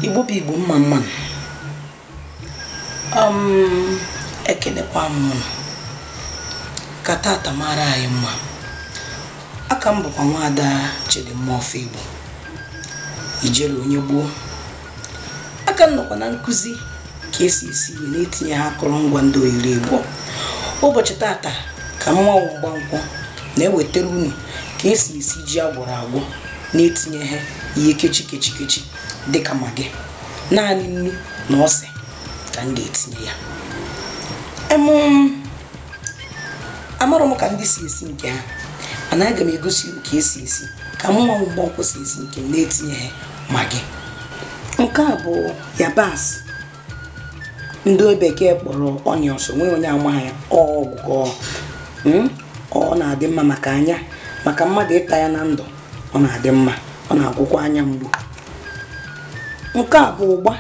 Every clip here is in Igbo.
igbo bụ igbo mma mma nụ, ekenekwa m unu ka tata mara anyị mma aka m bụkwa nwaada Chidimma of Igbo ijere onye gboo aka m nọkwa na nkuzi ka esi esi ihe na-etinyeha akụrụngwa ndị oyiri igbo ụbọchị tata ka mmanwụ mgbankwọ na-ewetara unu ka esi esi ji agwọrọ agwọ na-etinyeha ihe kechi kechi kechi dịka magi naanị nnu na ose ka m ga-etinye ya amarọ m ka ndị si esi nke ha mana aga m egosi unu ka esi esi ka mmanwụ mgbankwọ si esi nke m na-etinyeha magi nke a bụ yabasị ndị bekee kpọrọ onions o nweghị onye amaghị ya ọgwụgwọ hmm? ọ na-adị mma maka anya maka mmadụ ịta ya na ndụ ọ na-adị mma ọ na-agwọkwa anya mgbu nke a bụ ụgba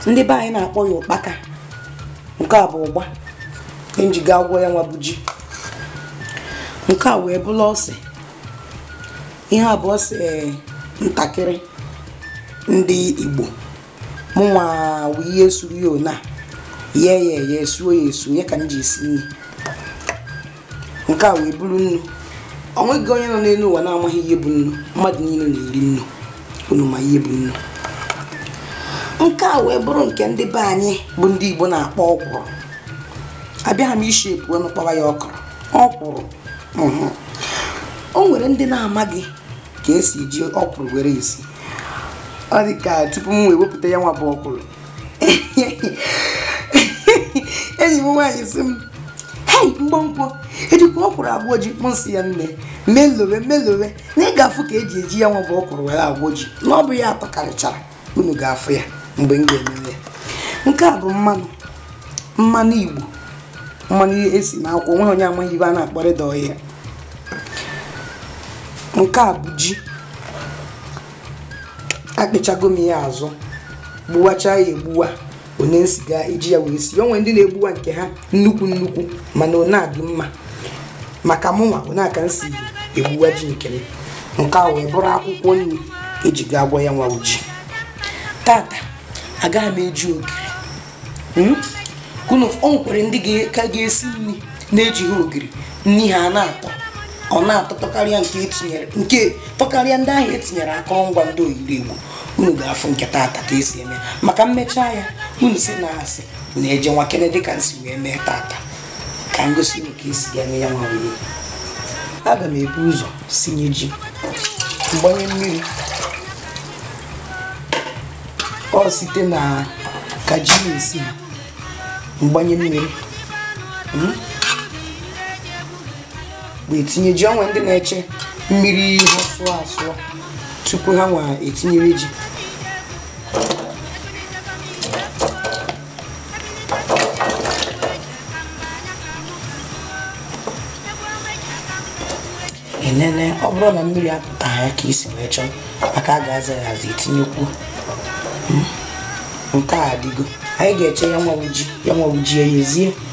ndị be anyị na-akpọ ya ụkpaka nke a bụ ụgba m ji ga-agwọ ya nwa bụ ji nke a wee bụrụ ose ihe a bụ ose eh, ntakịrị ndị igbo mụnwa wụ ihe suru ya ona ye ya eye esuo ya esu ya ka m ji esi nri nke a wee bụrụ nnu o nweghị onye nọ n'elu ụwa na-amaghị ihe bụ nnu mmadụ niile na-eri nnu unu ma ihe bụ nnu nke a wee bụrụ nke ndị be anyị bụ ndị igbo na-akpọ ọkwụrụ abịaghị m ishi epu ọnụ kpọwa ya okro ọkwụrụ mhm. o nwere ndị na-amaghị ka esi eji ọkwụrụ were esi ọ dị ka tupu m wee wepụta ya nwa bụ ọkwụrụ enyi m nwaanyị sị m hei mgbankwọ ejikwa ọkwụrụ agwọ ji m sị ya nne melowe melowe na ị ga-afụ ka eji eji ya nwa bụ ọkwụrụ were agwọ ji na ọ bụ ya atọkarịchara unu ga-afụ ya mgbe m ga-eme ya nke a bụ mmanụ mmanụ igbo mmanụ esi na akwụ o nweghị onye amaghị ibe a na-akpọrịda ọhịa nke a bụ ji akpịchago m ya azụ gbuwacha ya egbuwa one m si ga-eji ya wee si o nwee ndị na-egbuwa nke ha nnukwu nnukwu mana ọ na-adị mma maka mụnwa one a ka m si egbuwa ji nke m nke a wee bụrụ akwụkwọ nri eji ga-agwọ ya nwa bụ ji tata agaghị m eji ogiri o nwekwara ndị ga- ka ga-esi nri na-ejighị ogiri nri ha na-atọ ọ na-atọ tọkarịa nke etinyere nke tọkarịa ndị ahụ etinyere akụrụngwa ndị oyiri igbo unu ga-afụ nke taata ka esi eme maka mmechaa ya unu si na asị unu eje nwakene dịka m si wee mee taata ka m gosi unu ka esi ya eme ya nwa wee aga m ebu ụzọ sinye ji m gbanye mmiri ọ site na ka ji na-esi ha m gbanye mmiri hmm? wee tinye ji o nwee ndị na-eche mmiri ha sụọ asụọ tupu ha wee etinye ji enene ọ bụrụ na mmiri apụta ya ka i si wee chọọ maka a ga-aza ya aza e tinyekwuo nke a adịgo anyị ga-eche ya nwa bụ ji ya nwa bụ ji eyezie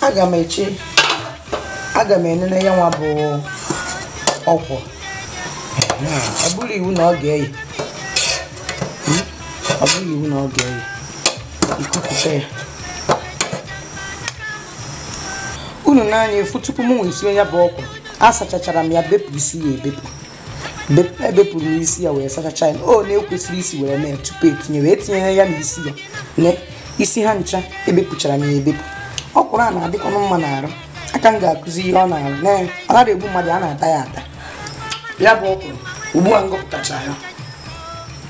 aga m eche aga m enene ya nwa bụ ọkwụrụ ọ bụrọ iwu na ọ ga-eye ọ bụrọ iwu na ọ ga-eye i kupụta ya unu n'anya efu tupu m wee sie ya bụ ọkwụrụ asachachara m ya bepụ isi ya ebepụ ebepụrụ m isi ya wee sachacha ya o na-ekwesịrị isi were mee tupu etinye wee tinyere ya na isi ya na isi ha ncha ebepụchara m ya ebepụ ọkwụrụ a na-adịkwanụ mma n'arụ a ka m ga-akụzi ihe ọ na-arụ na ọ nara egbu mmadụ a na-ata ya ata ya bụ ọkwụrụ ugbu a m gụpụtachara ya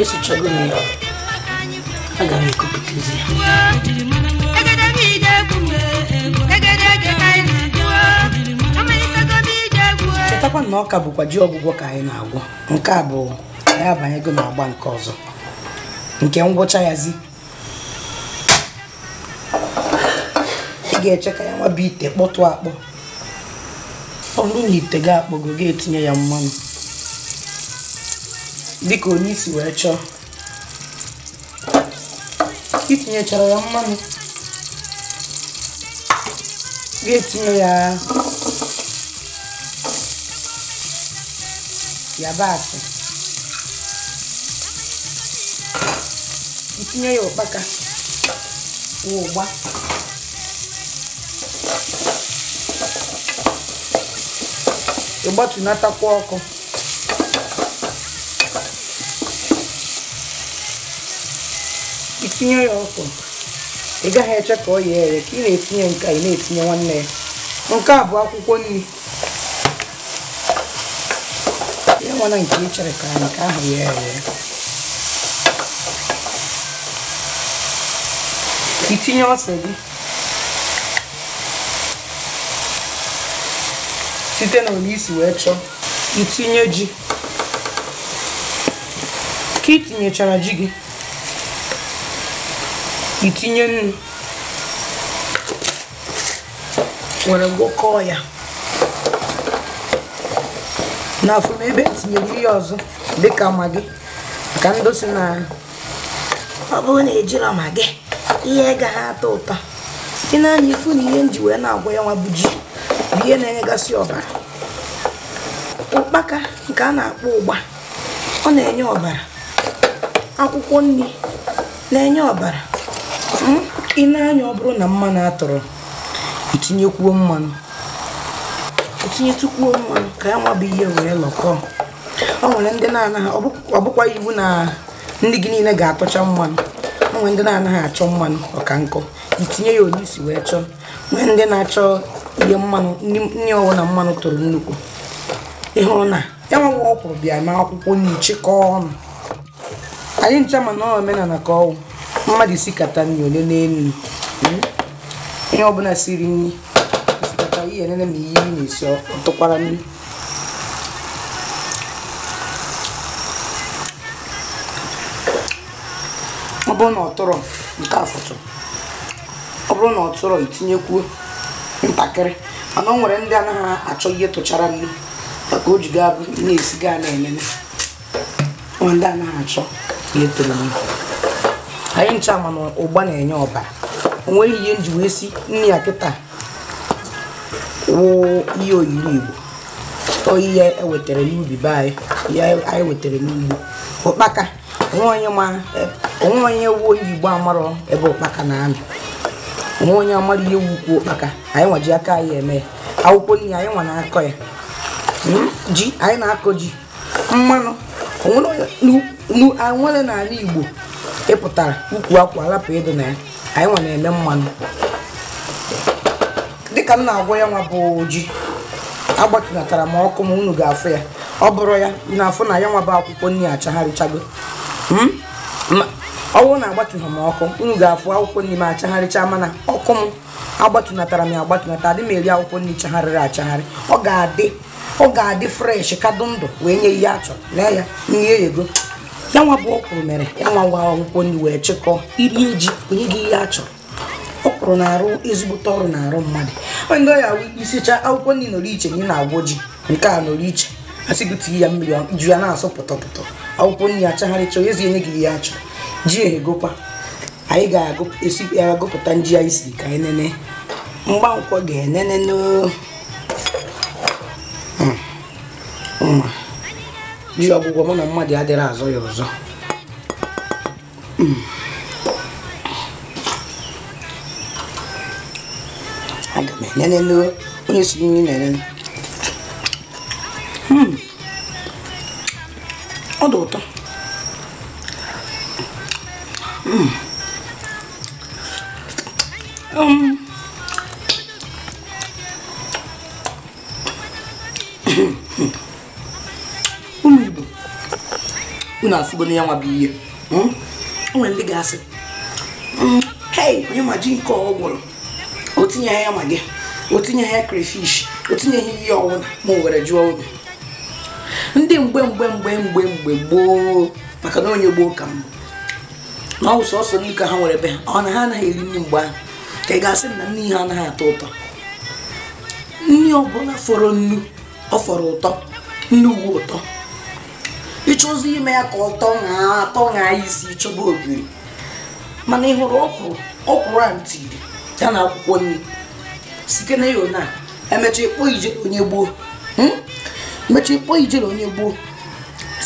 esichago m ya aga m ekupụtazi ya chetakwa na ọ ka bụkwa ji ọgwụgwọ ka anyị na-agwọ nke a bụ anyị abanyego n'agba nke ọzọ nke ngwụcha ya zi ị ga-eche ka ya nwa bụ ite kpọtụ akpọ ọ bụrụ na ite gị akpọgo gị etinye ya mmanụ dịka onye si wee chọọ i tinyechara ya mmanụ gị etinye ya yabasị i tinye ya ụkpaka ụgba ị gbatunatakwa ọkụ i tinye ya ọkwụrụ ị gaghị eche ka o yeere ka ị na-etinye nke a ị na-etinye nwanne ya nke a bụ akwụkwọ nri ya nwana nke ị chere ka nke ahụ yeere itinye ose gị site na ole i si wee chọọ itinye ji ka itinyechara ji gị itinye nnu were gwọkọọ ya na-afụ m ebe m tinyere ihe ọzọ dịka maggi maka ndị sị na ọ bụrụ na ejirọ maggi ihe agaghị atọ ụtọ i nee anya ị fụ na ihe m ji wee na-agwọ ya nwa bụ ji bụ ihe na-enyegasị ọbara ụkpaka nke a na-akpọ ụgba ọ na-enye ọbara akwụkwọ nri na-enye ọbara hmm? i nee anya ọ bụrụ na mmanụ atụrọ itinyekwuo mmanụ itinyetukwuo mmanụ ka ya nwa bụ ihe wee lọkọọ o nwere ndị na-anaghị ọ bụkwa iwu na nri gị niile ga-atụcha mmanụ o nwere ndị na-anaghị achọ mmanụ ọka nkọ itinye ya ole i si wee chọọ nwere ndị na-achọ ihe mmanụ nri ọ wụ na mmanụ tụrụ nnukwu ị hụrụ na ya nwa nwa ọkwụrụ bịa ma akwụkwọ nri chịkọọ ọnụ anyị ncha ma na omenala ka ọ wụ mmadụ sikata nri ole n'elu hmm? onye ọbụla siri nri i sikata i nenee ma ihe ị na-esi ọ tụkwara nnu ọ bụrụ na ọ tụrụ nke afụtụ ọ bụrụ na ọ tụrọ itinyekwuo ntakịrị mana o nwere ndị anaghị achọ ihe tụchara nnu maka o ji ga-abụ na-esi ga na-elele nwere ndị anaghị achọ ihe tụrụ nnu anyị ncha ma na ụgba na-enye ọbara o nwerọ ihe m ji wee si nri a kịta wụ ihe oyiri igbo ọ ihe e wetara n'ubi be anyị ihe anyị wetara n'ugbo ụkpaka o nwe onye ma eh, o nwe onye wụ onye igbo amarọ ebe ụkpaka na-anọ o nwe onye amarọ ihe wụ ukwu ụkpaka anyị nwa ji aka anyị eme ya akwụkwọ nri anyị nwa na-akọ ya Hmm? ji anyị na-akọ ji mmanụ o nwere onye- nu- nu- anyị nwere n'ala igbo ị pụtara ukwu akwụ alapụ ịdị na ya anyị nwa na-eme mmanụ dịka m na-agwọ ya nwa bụ ji agbatụnatara m ọkụ m unu ga-afụ ya ọ bụrụ ya unu afụ na ya nwa bụ akwụkwọ nri achagharịchago Hmm? Ma- ọ bụrụ na agbatụghị m ọkụ unu ga-afụ akwụkwọ nri m achagharịcha mana ọkụ m agbatụnatara m ya agbatụnata adị m eri akwụkwọ nri chagharịrị achagharị ọ ga-adị ọ ga-adị fresh ka dụ ndụ wee nye ihe a chọrọ lee ya nri eyego ya nwa bụ ọkwụrụ mere ya nwa nwa akwụkwọ nri wee chịkọọ iri ji nye gị ihe a chọrọ ọkwụrụ na-arụ ezigbote ọrụ n'arụ mmadụ ndị ọya wụ i sicha akwụkwọ nri nọrọ iche na ị na-agwọ ji nke a nọrọ iche a sị gị tinye ya mmiri ọ- ju ya na-asụ pụtọpụtọ akwụkwọ nri achagharịcha onye ezi enye gị ihe a chọrọ ji ehegokwa anyị ga-esi ya agụpụta nji anyị si ka anyị nene Mgbankwọ ga-enene n'o ji ọgwụgwọ mụ na mmadụ adịrọ azọ ya ọzọ aga m enene onye si nri na-enene hmm. ọ dị ụtọ hmm. um. ụmụ Igbo unu afụgo na ya nwa bụ ihe hmm? o nwere ndị ga-asị hmm, hei onye ma ji nke ọ gwọrọ o tinyeghị ya Maggi o tinyeghị ya crayfish o tinyeghị ihe ọwụna ma o were jụọ unu ndị mgbe mgbe mgbe mgbe mgbe gboo maka na onye gboo ka m bụ na ọ bụ sọsọ nnu ka ha nwere be ha ọ na ha anaghị eri nri mgbe ahụ ka ị ga-asị na nri ha anaghị atọ ụtọ nri ọbụla fọrọ nnu ọ fọrọ ụtọ nnu nwe ụtọ ị chọzi ime ya ka ọ tọọ na atọ na isi ị chọba ogiri mana ị hụrụ ọkwụrụ ọkwụrụ a ntiri ya na akwụkwọ nri sikene ya na emecha ịkpọ ije onye gboo hmm? emecha ịkpọ ije onye gboo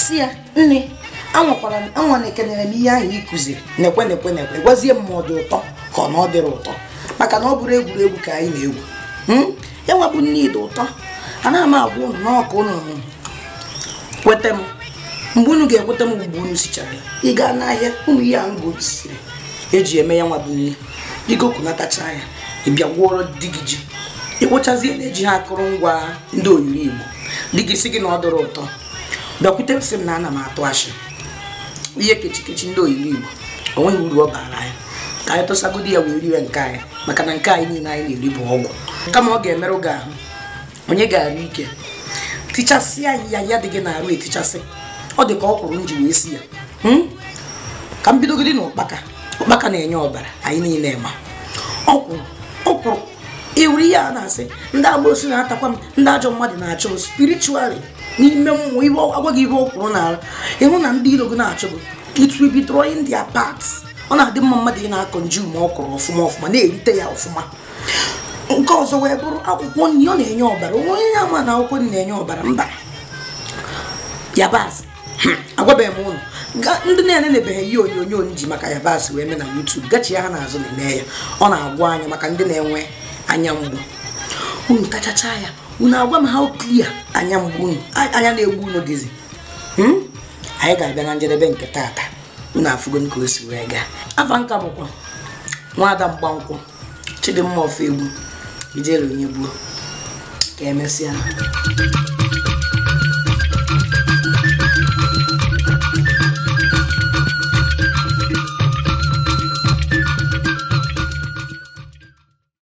sị ya nne anwakwara m anwa nekenere m ihe ahụ ị kụziri nekwe nekwe nekwe gwazie m ma ọ dị ụtọ ka ọ na ọ dịrọ ụtọ maka na ọ bụrọ egwuregwu ka anyị na-egwu hmm? ya nwa bụ nri dị ụtọ anaghị m agwa unu na ọ ka unu kweta m mgbe unu ga-ekweta m mgbe unu sichara ị gaa n'ahịa ụmụ ihe a ngosiri e ji eme ya nwa bụ nri i gokọnatacha ya ị bịa gwọrọ di gị ji ị gwọchazie na ejighị akụrụngwa ndị oyiri Igbo di gị sị gị na ọ dịrọ ụtọ bịakwute m sị m na ana m atụ ashị ihe kechikechi ndị oyiri Igbo o nweghị uru ọ bara anyị ka anyị tụsagodi ya wee riwe nke anyị maka na nke anyị niile anyị na-eri bụ ọgwụ kama ọ ga-emerụ gị ahụ o nye gị arụ ike tichasịa ọya dị gị n'arụ etichasị ọ dị ka ọkwụrụ nji wee si ya hmm? ka m bidogodi na ụkpaka ụkpaka na-enye ọbara anyị niile ma ọkwụrụ ọkwụrụ ị wụrụ ihe a na-asị ndị amosu na-atakwa m ndị ajọ mmadụ na-achọ m spiritually n'ime mmụọ ibe agwa gị ihe ọkwụrụ na-arụ ịhụ na ndị iro gị na-achụ gị it will be drawing their paths ọ na-adị mma mmadụ ị na-consume ọkwụrụ ọfụma ọfụma na-erite ya ọfụma nke ọzọ wee bụrụ akwụkwọ nri ọ na-enye ọbara o nwe onye ama na akwụkwọ nri na-enye ọbara mba yabasị hmm, agwabeghị m unu ndị na-enenebeghị ihe onyonyo m ji maka yabasị wee mee na YouTube gachihaa n'azụ na-eme ya ọ na-agwọ anya maka ndị na-enwe anya mgbu unu tachacha ya unu agwa m how clear anya mgbu unu anya na-egbu unu dịzi hmm? anyị ga-abịa na njedebe nke taata unu afụgonụ ka o si wee gaa afa m ka bụkwa nwada mgbankwọ chidimma ofoegbu ijele onye gboo ka emesịa